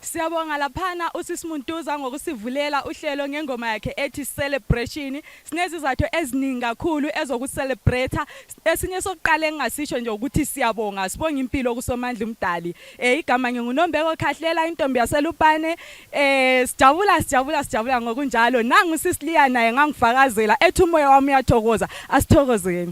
Siyabonga laphana usisimuntuza ngokusivulela uhlelo ngengoma yakhe ethi celebration Sinezizathu eziningi kakhulu ezokuselebretha. Esinye sokuqala engingasisho nje ukuthi siyabonga, sibonga impilo kuSomandla uMdali. Eh igama nginguNombeko Khahlela intombi yaseLupane. Eh sijabula sijabula sijabula ngokunjalo. Nangu uSisliya naye ngangifakazela ethi umoya wami uyathokoza. Asithokozeni.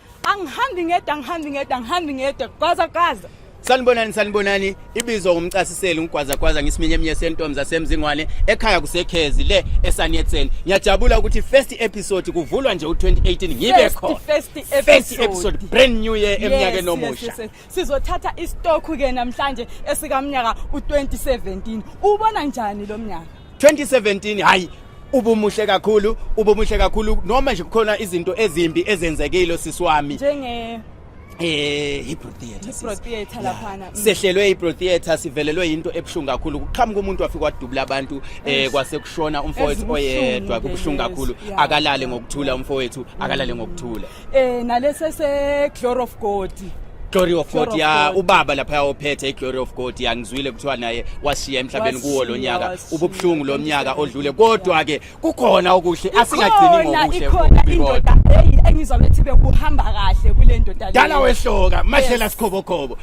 angihambi ngedwa angihambi ngedwa angihambi ngedwa gwaza gwaza sanibonani sanibonani ibizwa ngumcasiseli ungigwazagwaza ngisiminyemnye sentombi zasemzingwane ekhaya kusekhezi le esaniyetseni ngiyajabula ukuthi first episode kuvulwa nje u-2018 ngibe khona first episode brand new year emnyakeni omusha Sizothatha isitokhu ke namhlanje esikamnyaka u2017. Ubona njani lo mnyaka? 2017 hayi ubumuhle kakhulu ubumuhle kakhulu noma nje kukhona izinto ezimbi ezenzekile sisiwami njenge eh Hebrew theater Hebrew theater laphana mm. sehlelwe Hebrew theater sivelelwe into ebuhlungu kakhulu kuqhamuka umuntu wafika wadubula abantu eh kwase kushona umfowethu oyedwa kubuhlungu kakhulu akalale ngokuthula umfowethu akalale ngokuthula Eh nalese se Glory of God. Glory of God ya ubaba lapha ophethe iGlory of God ya ngizwile kuthiwa naye washiya emhlabeni kuwo lo nyaka ububuhlungu lo nyaka odlule kodwa ke kukhona okuhle asingagcini ngokuhle ikhona indoda hey engizwa bethi bekuhamba kahle kule ndoda dala wehloka mahlela sikhobokhobo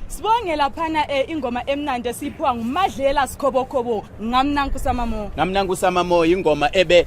Sibonge laphana eh, ingoma emnandi esiphiwa nguMadlela Sikhobokhobo ngamnanku samamo. Ngamnanku samamo ingoma ebe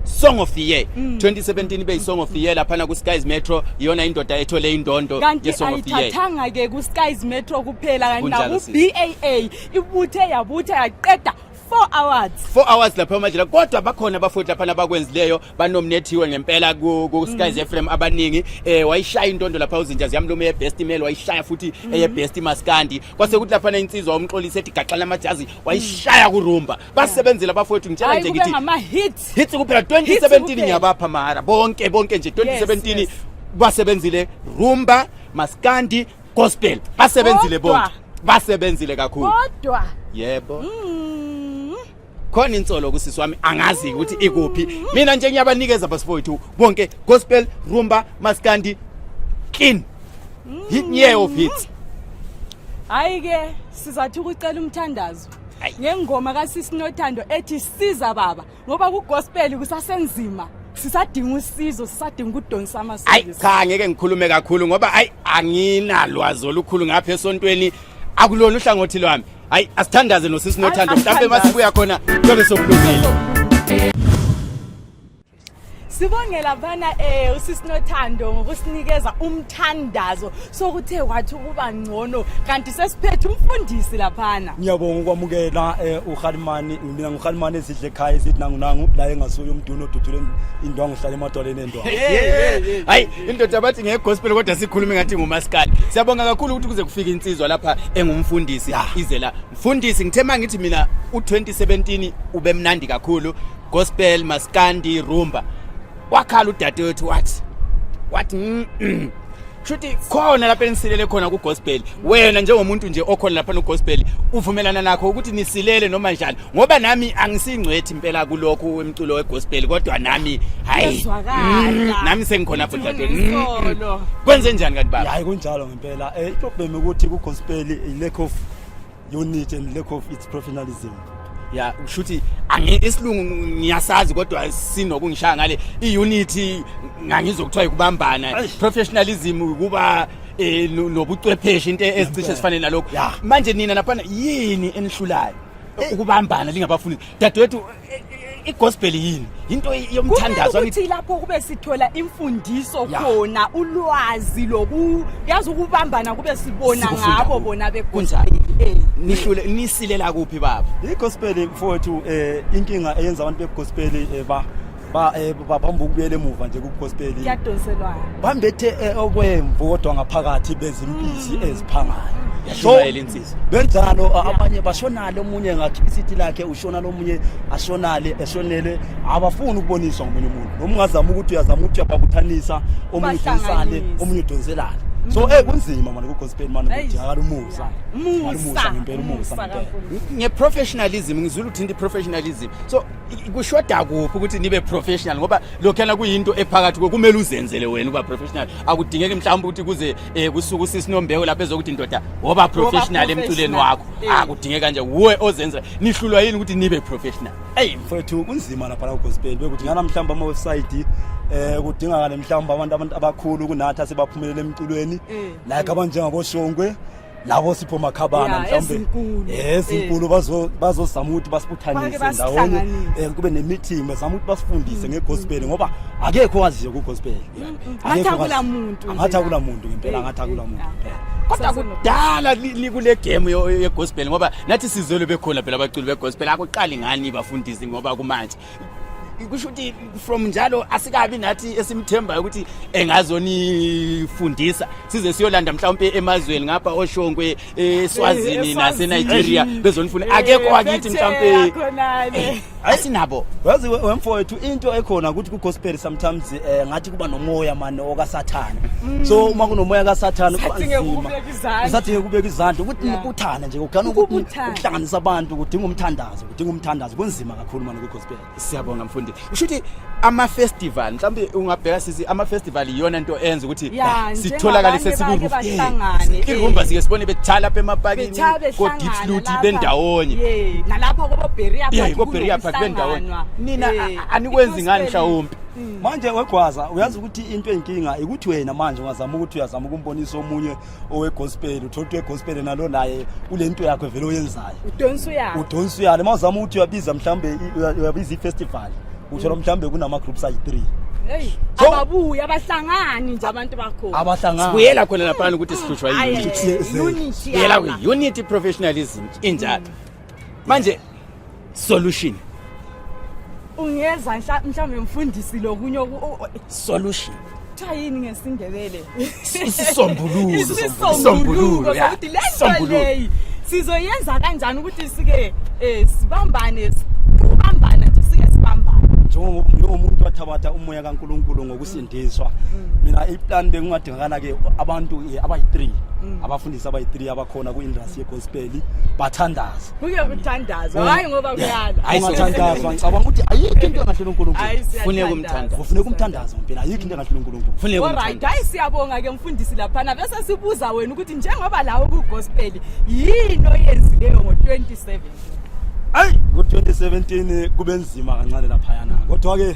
song of the year mm. 2017 ibe isong of the year laphana ku-skies metro iyona indoda ethole indondo yesong of the year kanti ke ku-skies metro kuphela kanti naku-baa ibuthe yabutha yaqeda 4 hours 4 hours lapha emadlela kodwa bakhona abafowethu lapha abakwenzileyo banominethiwe ngempela ku, ku Skies mm. FM abaningi eh wayishaya intondo lapha uzinja ziyamlume ye best email wayishaya futhi mm. eye best maskandi kwase kuthi lapha insizwa umxolisi ethi gaxana amajazi wayishaya mm. kurumba basebenzile abafowethu ngitshela nje ngithi ama hits hits kuphela 2017 ngiyabapha mahara bonke bonke nje 2017 yes, yes. basebenzile rumba maskandi Gospel basebenzile Kodwa. bonke. Basebenzile kakhulu. kodwa Yebo. mm, Khona insolo kusisi wami angazi ukuthi ikuphi. Mina nje ngiyabanikeza basifowethu bonke gospel, rumba, maskandi, clean. Hit year of hits. hayi ke sizathu ukucela umthandazo Ayi. ngengoma kasisi nothando ethi siza baba ngoba kugospel kusasenzima sisadinga usizo sisadinga ukudonsa amasiko ayi cha ngeke ngikhulume kakhulu ngoba ayi anginalwazi olukhulu ngapha esontweni akulona uhlangothi lwami hayi asithandaze nosisi nothando mhlawumbe masibuya khona kuyobe sokulungile Sibonge laphana eh usisinothando ngokusinikeza umthandazo sokuthe wathi ukuba ngcono kanti sesiphethe umfundisi laphana. Ngiyabonga ukwamukela eh uHalimani mina nguHalimani esidle ekhaya esithi nangu nangu la engasuye umduno oduthule indwangu uhlale emadwaleni endwangu. Hayi indoda bathi nge gospel kodwa sikhuluma ngathi ngumaskali. Siyabonga kakhulu ukuthi kuze kufike insizwa lapha engumfundisi izela. Mfundisi ngithe mangithi mina u2017 ubemnandi kakhulu gospel maskandi rumba wakhala udade wethu wathi wathi mm, mm. shuthi khona lapha enisilele khona kugospel wena njengomuntu nje okhona lapha nogospel uvumelana nakho ukuthi nisilele noma njani ngoba nami angisingcwethi impela kulokhu emculo wegospel kodwa nami hayi mm, nami sengikhona fudade mm. kwenze njani kanti baba hayi kunjalo ngempela eh iproblem ukuthi kugospel ilekho unit and lack of its professionalism ya kushuthi isilungu ngiyasazi kodwa sinokungishaya ngale i-unity ngangizokuthiwa yikubambana professionalism ukuba eh, nobucwepheshe into ezicishe zifane nalokho manje nina naphana yini enihlulayo ukubambana lingabafundi dadewethu igospel yini into yomthandazo ukuthi lapho kube sithola imfundiso khona ulwazi loku yazi ukubambana kube sibona ngabo bona bekunjani eh. nihlule nisilela kuphi baba igospel mfowethu eh inkinga eyenza abantu begospel eh, ba ba eh, babamba ukubuyela emuva nje kugospel yadonselwa bambethe eh, okwemvu kodwa ngaphakathi bezimbizi mm. eziphangayo yashumayela insimbi benjalo abanye bashonale omunye ngathi isithi lakhe ushonale omunye ashonale eshonele abafuni ukuboniswa ngomunye umuntu noma ungazama ukuthi uyazama ukuthi uyababuthanisa omunye udonsale omunye udonselale so eh kunzima manje kugospel manje kujala umusa umusa ngempela umusa nge professionalism ngizula uthinta professionalism so kushoda kuphi ukuthi nibe professional ngoba lokhana kuyinto ephakathi kumele uzenzele wena uba professional akudingeki mhlawumbe ukuthi kuze eh kusuka usisi Nombeko lapha ezokuthi indoda woba professional emculweni wakho eh. akudingeka ah, nje wuwe ozenza nihlulwa yini ukuthi nibe professional hey mfethu kunzima lapha la gospel bekuthi ngana mhlamba ama website eh kudingakala mhlamba abantu abantu abakhulu kunathi asebaphumelele emculweni eh. like abanjengabo Shongwe labo sipho makhabana mhlawumbe eh, ezinkulu eh. bazozama ukuthi basibuthanise ndawonye eh, kube ne-meeting bazama ukuthi basifundise ngegospel mm. ngoba akekho owaziyo kugospel ngathi akula muntu ngathi akula muntu ngempela ngathi akula muntu kodwa kudala nikule game yegospel ngoba nathi sizolo bekhona phela abaculi begospel akuqali ngani bafundisi ngoba kumanje kusho ukuthi from njalo asikabi nathi esimthembayo ukuthi engazonifundisa size siyolanda mhlawumpe emazweni ngapha oshongwe eswazini eh, nasenigeria bezonifuna akekho wakithi mhlawumpe asinabo wazi wemfowethu into ekhona ukuthi kugospel sometimes eh, ngathi kuba nomoya mane okasathane mm. so uma kunomoya kasathane kubanzima usadinge kubeka izandla ukuthi nibuthane nje kugana ukuhlanganisa abantu kudinga umthandazo udinga umthandazo kunzima kakhulu manje kugospel siyabonga mfundi usho ukuthi ama-festival mhlawumbe ungabheka sisi ama-festival iyona nto enza ukuthi Ya, sitholakale njengabanye sesikuroof bake bahlangane, eh. irumba sike sibone betshaya lapha emapakini Betshaya behlangana kodipsluti lapha. bendawonye Ye, nalapha koboberia Yeah, koBerea Park bendawonye. Nina, a- anikwenzi ngani mhlawumbe? manje wegwaza uyazi ukuthi into enkinga ikuthi wena manje ungazama ukuthi uyazama ukumbonisa omunye owegospel uthothi wegospel nalo naye kule nto yakho vele oyenzayo udonsa uyalo udonsa uyalo uma uzama ukuthi uyabiza mhlawumbe uyabiza i-festival uthola mhlawumbe kunama-groups ayi-three Hey, ababuya abahlangani nje abantu bakho. Abahlangani. Sibuyela khona lapha ukuthi sihlutshwa yini. Unity. Sibuyela kwi unity professionalism injalo. manje solution ungeza nhla- mhlawumbe mfundisi lokunye oku- o- o- solution kuthiwa yini ngesindebele isisombululo isisombuluko yeah. sokuthi le nto Isisombululo. leyi sizoyenza kanjani ukuthi sike um sibambane s- ukubambana nje sike sibambane njengomuntu wathabatha umoya kaNkuluNkulu ngokusindiswa mina iplan bengingade Ngakala ke abantu eh, abayi-3 mm. abafundisi abayi-3 abakhona kwi-industry yegospel bathandaza. Kuye kuthandaza eh, hayi ngoba kuyala. Ayisathandazwa ngicabanga ukuthi ayikho into engahlula uNkulunkulu. Kufuneka umthandazo. Kufuneka umthandazo impela ayikho into engahlula uNkulunkulu. Kufuneka umthandazo. Alright, hayi siyabonga ke mfundisi lapha na bese sibuza wena ukuthi njengoba lawo kugospel yini oyenzileyo ngo-2017. Ayi ngo-2017 kube nzima kancane lapha yana. Kodwa ke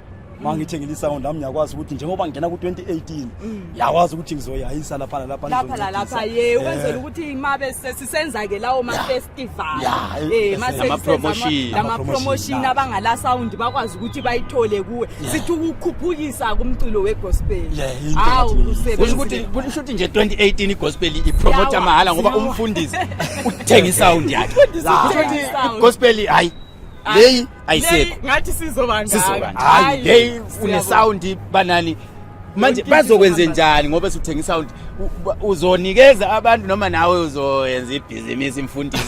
uma ngithengile isound lami ngiyakwazi ukuthi njengoba ngingena ku-2018 mm. ngiyakwazi ukuthi ngizoyayisa lapha nalapha lapha nalapha ye eh. ukwenzela ukuthi mabe sisenza-ke lawo ma-festival eh, lama-promotion abangala sound bakwazi ukuthi bayithole kuwe sithi ukukhuphukisa kumculo wegospel hawu usho ukuthi nje 2018 igospel ipromota mahhala ngoba umfundisi uthenga isound yakhe gospel hayi leyi ayisekho ngathi sizoba ngaka hayi hey une sound banani manje bazokwenze njani ngoba suthenga isound uzonikeza abantu noma nawe uzoyenza ibhizinisi mfundisi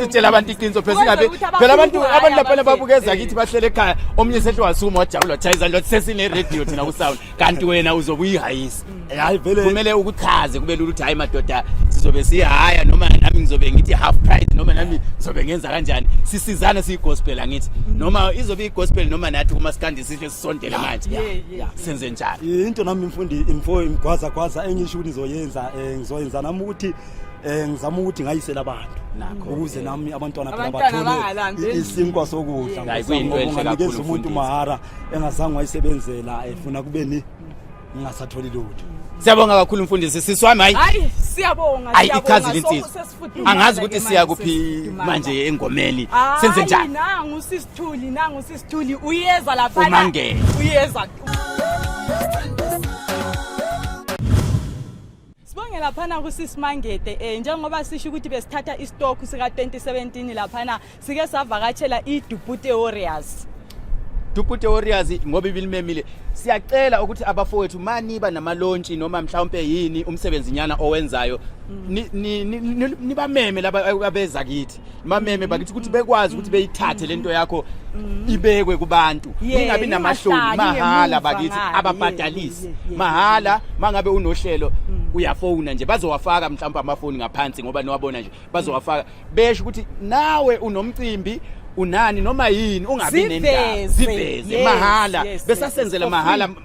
utshela abantu iqiniso phela singabe phela abantu abantu lapha babukeza kithi bahlele ekhaya omunye sehle wasuma wajabula wachayizani lothi sesine-radio thina kusound kanti wena uzobe uyihayisa hayi vele kumele ukuchaze kube lula ukuthi hayi madoda sizobe sihaya noma nami ngizobe ngithi half price noma nami ngizobe ngenza kanjani sisizane siyigospel angithi noma izobe igospel noma nathi kuma sikandi sihle sisondele manje Yeah, yeah, yeah. senze njani into nami mfundi imfo imgwaza gwaza engisho ukuthi ngizoyenza eh, ngizoyenza nami ukuthi eh, ngizama ukuthi ngayisela abantu Nakho, ukuze eh. nami abantwana phela Abantwana bangalandeli. bathole isinkwa sokudla Hayi, kuyinto enhle Ngoba unganikeza kakhulu, umuntu mfundisi. mahara engazange wayisebenzela efuna kubeni ngingasatholi lutho siyabonga kakhulu mfundisi sisi wami hayi hayi siyabonga Ayi, siyabonga. ichaza So, insizwa. sesifudumala angazi ke ukuthi manje, siya kuphi sesifudumala. manje engomeni Hayi, senze njani nangu sisithuli nangu sisithuli uyeza lapha Umangele. uyeza Sibonge laphana kusisi Mangede eh njengoba sisho ukuthi besithatha istock sika 2017 laphana sike savakatshela iDupute Warriors Dupute Warriors ngoba ibilimemile siyacela ukuthi abafowethu maniba namalontshi noma mhlawumbe yini umsebenzi nyana owenzayo mm. nibameme laba abeza kithi mameme bakithi ukuthi bekwazi ukuthi beyithathe lento yakho ibekwe kubantu Yeah, ingabi namahloni ingahlali mahhala ngemuva bakithi ngale. ababhadalisi Yeah, yeah, yeah. mahhala mangabe unohlelo uyafona nje bazowafaka mhlawumbe amafoni ngaphansi ngoba niwabona nje bazowafaka besho ukuthi nawe unomcimbi unani noma yini ungabi nendaba Ziveze. ziveze Yes, mahhala yes, yes, besasenzela for mahhala free.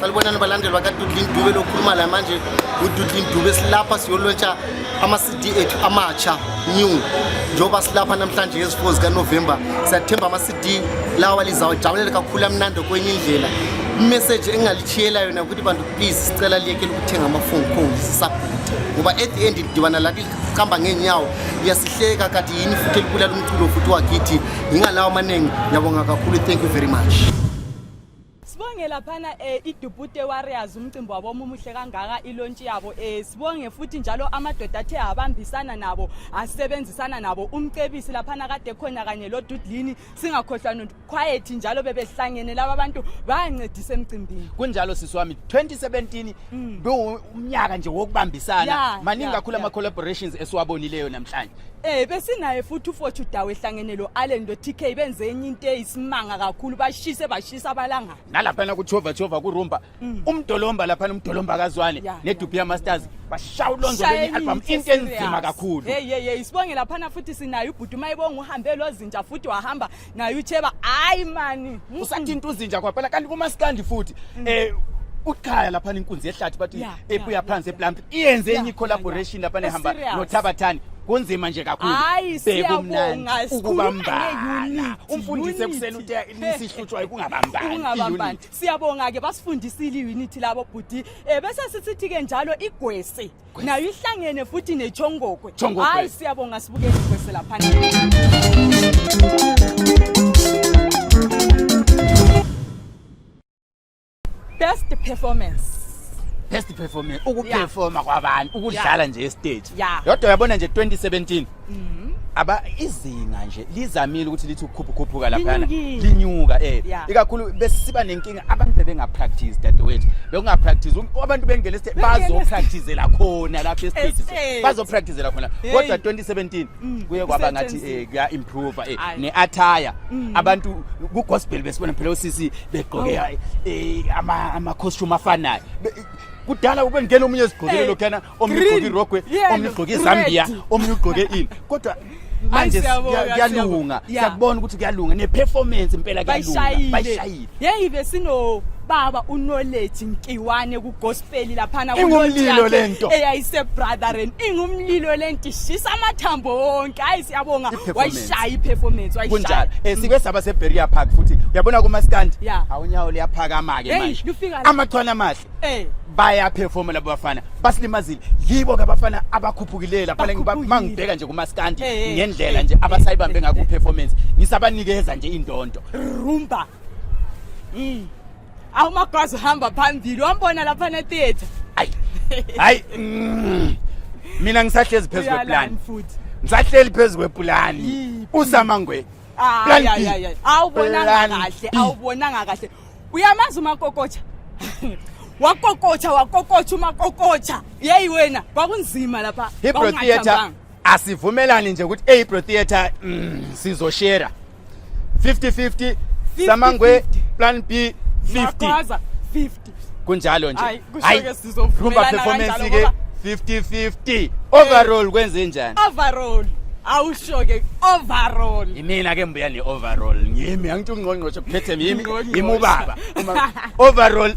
sanibonani balandeli bakadudlin dube lokhuluma la manje ududlin dube silapha siyolontsha ama-cd ethu amatsha new njengoba silapha namhlanje ngezifo zikanovemba siyathemba ama-cd lawa lizawujabulela kakhulu amnandi kwenye indlela imeseji engingalishiyela yona ukuthi bantu please sicela liyekele ukuthenga amafoni khona sisabhuda ngoba at the end lidibana la liqamba ngeenyawo liyasihleka kade yini futhi elibulala umculo futhi wakithi yingalawo amaningi yabonga kakhulu thank you very much sibonge laphana um eh, idubute warriors umcimbi wabo omuhle kangaka ilontshi yabo um sibonge futhi njalo amadoda athe abambisana nabo asebenzisana nabo umcebisi laphana kade khona kanye lodudlini singakhohlwa quiet njalo bebehlangene laba bantu bayancedisa emcimbini kunjalo sisi wami 2017 mm. bewumnyaka nje wokubambisana yeah, maningi yeah, kakhulu yeah. ama collaborations esiwabonileyo namhlanje Eh besinaye futhi uFothu Dawe ehlangene lo Allen lo TK benze enye into eyisimanga kakhulu bashise bashisa abalanga. Nalapha na kuchova chova kurumba Mm. umdolomba laphana umdolomba kazwane yeah, nedubhi yeah. yamasters bashawu lonzo kwenye album into enzima kakhulu hey hey hey sibonge laphana futhi sinayo ubhuti uma ibonga uhambe lozinja futhi wahamba naye ucheba hayi mani usathinta uzinja kwaphela kanti kumaskandi futhi mm. eh ukhaya lapha inkunzi yehlathi bathi ebuya phansi eplump iyenze enye collaboration lapha nehamba nothabathani kunzima nje kakhulu bekumnandi ukubambana umfundisi ekuseni uthi nisihlutshwa ukungabambani Siyabonga-ke basifundisile i-unity labo bhuti um eh, bese sisithi-ke njalo igwesi nayo ihlangene futhi nechongokwe Chongokwe. hhayi siyabonga sibukele igwesi laphana best performance best performance ukuperforma kwabantu ukudlala nje estage Yeah. yodwa uyabona nje 2017 Mhm. aba izinga nje lizamile ukuthi lithi ukukhuphukhuphuka laphana Linyukile. linyuka eh Yeah. ikakhulu besiba nenkinga abantu bebenga practice dadewethu bekunga practice Um- abantu bengena estate Bengena bazo estate. practicela khona lapha estate Estate. bazo practicela khona Hey. kodwa 2017 Mm, kuye kwaba ngathi kusetshenziswa. eh kuya improve eh Ayi. ne attire Mm. abantu ku gospel besibona phela usisi begqoke Oh. eh ama ama costume afanayo Be- kudala ubengena omunye ezigqokile Hey. lokhana omnye ugqoke Green, irogwe yellow, omnye ugqoke red. izambiya omnye ugqoke ini kodwa manje siyabonga, siya- kuyalunga siyabonga. Yeah. siyakubona ukuthi kuyalunga ne-performance impela kuyalunga bayishayile bayishayile yeyi besinobaba unoleji nkiwane kugospeli laphana Ingumlilo le nto. eyayisebrotheren ingumlilo le nto ishisa amathambo wonke hayi siyabonga I-performance. wayishaya i-performance kunjalo wayishaya um sibe saba seberia park futhi uyabona kumaskandi Yeah. awunyawo liyaphakama-ke Hey, manje lufika la. amachwane amahle Eh bayaperforma labo bafana basilimazile yibo ke abafana abakhuphukileyo lapha mangibheka nje kumaskandi eh, eh, ngendlela eh, nje abasayibambe ngakho uperformance ngisabanikeza nje indonto rumba mm awumagwazi hamba phambili wambona lapha ne theater ayi hayi mm. mina ngisahlezi phezu kweplan ngisahleli phezu kwepulani usamangwe awubonanga kahle awubonanga kahle Uyamazi umakokotsha wakokotsha wakokotsha umakokotsha yeyi wena kwakunzima lapha hebrew theatre asivumelani nje ukuthi ehebrew theatre mm, sizoshera 50-50 samangwe plan b 50 kunjalo nje Hayi, kusho-ke sizovumelana Rumba performance kanjalo ke ngoba 50-50. Overall kwenze njani? overall awusho-ke overall Yimina ke mbuya ne overall. Ngimi angithi ungqongqoshe kuphethe yimi. Ungqongqoshe. Yimi ubaba. Uma- Overall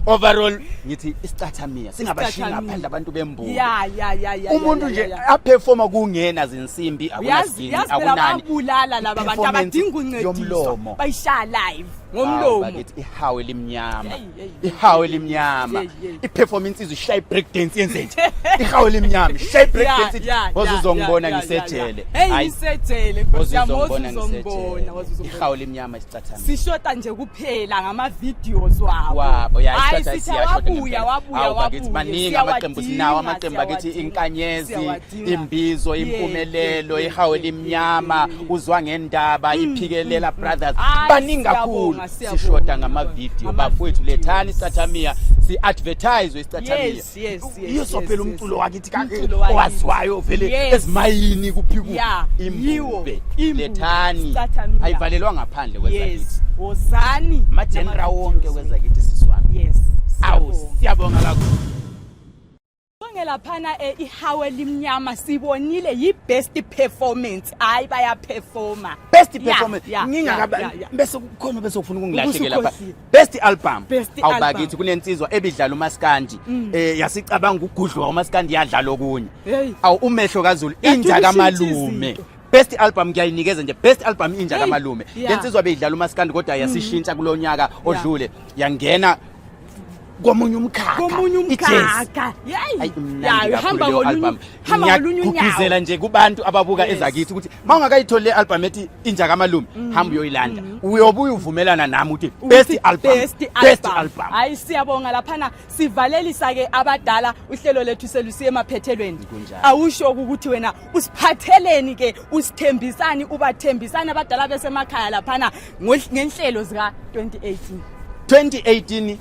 overall ngithi isicathamiya singabashinga Isicathamiya. phandle abantu bembuka. ya ya ya ya Umuntu ya, nje ya, ya. aperforma kungena zinsimbi Uyazi akunasini yazi phela akunani. babulala laba bantu Performance abadinga uncediso yomlomo. bayishaya live Hawu, ngomlomo bakithi ihawu elimnyama. ihawu elimnyama iperform insizwa ishaya ibreak dance yenze nje ihawu elimnyama ishaya ibreak dance waze uzongibona ngisejele hayi ngisejele nkosi yami waze uzongibona waze uzongibona ihawu elimnyama isicathana sishota nje kuphela ngama videos wabo wabo ya isicathana siyabuya wabuya wabuya maningi amaqembu sinawo amaqembu akithi inkanyezi imbizo impumelelo ihawu elimnyama uzwa ngendaba mm, iphikelela mm, mm. brothers baningi kakhulu sishoda ngamavidiyo bafowethu lethani isathamia si-advertise isithathamia yiso phela umculo wakithi owaziwayo vele ezimayini kuphikude imbube lethani ayivalelwa ngaphandle kwezakithi wozani amajenera wonke kwezakithi siswami awu siyabonga kakhulu Sonke laphana eh, ihawe limnyama sibonile yi-best performance hayi bayaperforma best performance yeah, ngingakaba yeah, yeah. bese kukhona bese ufuna ukungilahlekela lapha best album awubakithi kunensizwa ebidlala umaskandi mm. eh yasicabanga ukugudlwa umaskandi yadlala okunye awu umehlo kazulu inja kamalume best album ngiyayinikeza nje best album inja kamalume lensizwa beyidlala umaskandi kodwa yasishintsha mm. kulonyaka odlule yangena komunye umkhakhakomunye umkhakha hamba ngolunye unyawo nje kubantu ababuka ezakithi ukuthi ma ungakayitholi le album ethi inja kamalume mm. hamba uyoyilanda mm. uyobuye uvumelana nami ukuthi best album best album hayi siyabonga laphana sivalelisa ke abadala uhlelo lethu selusiye emaphethelweni awusho ukuthi wena usiphatheleni ke usithembisani ubathembisani abadala besemakhaya laphana ngenhlelo zika 2018 2018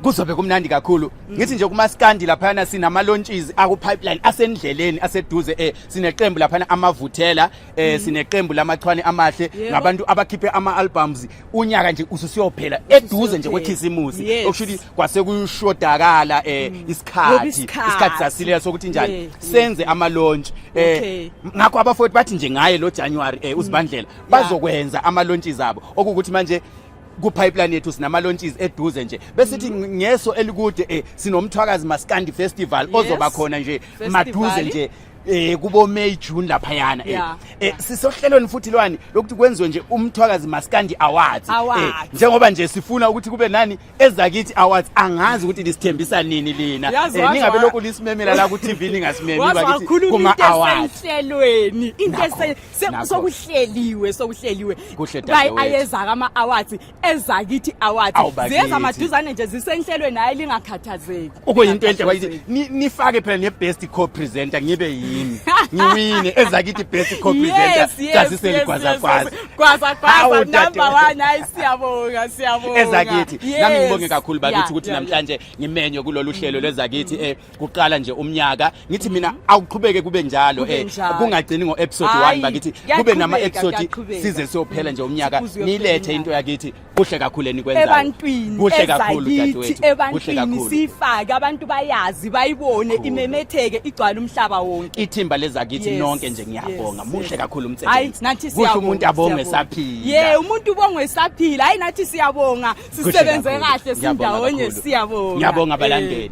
kuzobe kumnandi kakhulu mm. ngithi nje kumaskandi laphana sinama launches aku pipeline asendleleni aseduze eh sineqembu laphana amavuthela eh mm. sineqembu lamachwane amahle ngabantu abakhiphe ama albums unyaka nje ususiyophela eduze nje kwekhisimusi okushuthi kwase kushodakala eh mm. isikhathi isikhathi sasilela sokuthi njani senze ama launch eh ngakho abafowethu bathi nje ngaye lo January eh usibandlela mm. bazokwenza ama launches zabo okukuthi manje ku pipeline yethu sinama launches eduze nje besithi mm. ngeso elikude eh sinomthwakazi maskandi festival ozoba khona nje maduze nje eh kubo May June lapha yana eh, eh sisohlelweni futhi lwani lokuthi kwenziwe nje umthwakazi maskandi awards eh, njengoba nje sifuna ukuthi kube nani ezakithi awards angazi ukuthi lisithembisa nini lina eh, ningabe lokhu lisimemela la ku-tv ningasimemi bakithi kuma-awards ehlelweni into ese- se- Nakho. sokuhleliwe sokuhleliwe Kuhle Bay- dadewethu. ayeza kama-awards ezakithi awards Awu, bakithi. ziyeza maduzane nje zisenhlelweni hayi lingakhathazeki okuyinto enhle bakithi Lingakhathazeki. Ni- nifake phela ne-best co-presenter ngibe yimi ngiwine ezakithi best co-presenter Yes, yes, yes, yes, yes. Gwaza gwaza number 1 hayi siyabonga siyabonga. Ezakithi nami ngibonge kakhulu bakithi ukuthi namhlanje ngimenywe kulolu hlelo lwezakithi eh kuqala nje umnyaka ngithi mina awuqhubeke kube njalo eh kungagcini ngo episode 1 bakithi kube nama episode size sophela nje umnyaka nilethe into yakithi kuhle kakhulu enikwenzayo ebantwini kuhle kakhulu dadewethu ebantwini sifake abantu bayazi bayibone imemetheke igcwala umhlaba wonke ithimba lezakithi nonke nje ngiyabonga muhle kakhulu umsebenzi nathi siyabonga kuhle umuntu abonge saphila ye umuntu ubongwe saphila hayi nathi siyabonga sisebenze kahle sindawonye siyabonga ngiyabonga abalandeli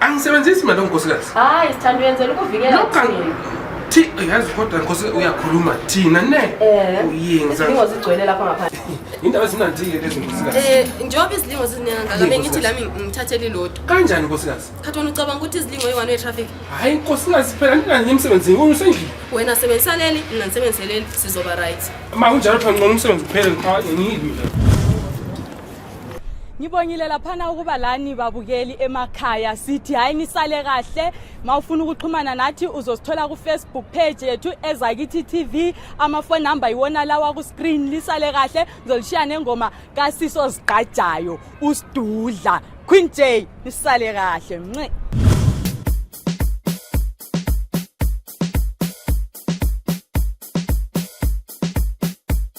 angisebenzisi mali onkosikazi hayi sithanda uyenzela ukuvikela thi yazi kodwa nkosi uyakhuluma thina ne eh, uyenzazilingo zigcwele lapha ngaphandle indaba ezinandike lezi nkosikazi eh, njengoba izilingo zizinengangaka bengithi lami ngithathele ilodwa kanjani nkosikazi khathi wena ucabanga ukuthi izilingo yi-one way traffic hhayi nkosikazi phela ndinanye emsebenzini wona usendlini wena sebenzisa leli mina ndisebenzise leli sizoba right ma kunjalo phela ngcono umsebenzi kuphele ngiyimi ngibongile laphana ukuba lani babukeli emakhaya sithi hhayi nisale kahle ma ufuna ukuxhumana nathi uzosithola kufacebook page yethu ezakithi tv amafoni number yiwona lawa kuscreen lisale kahle ngizolishiya nengoma kasiso zigqajayo usidudla queen j nisale kahle mnce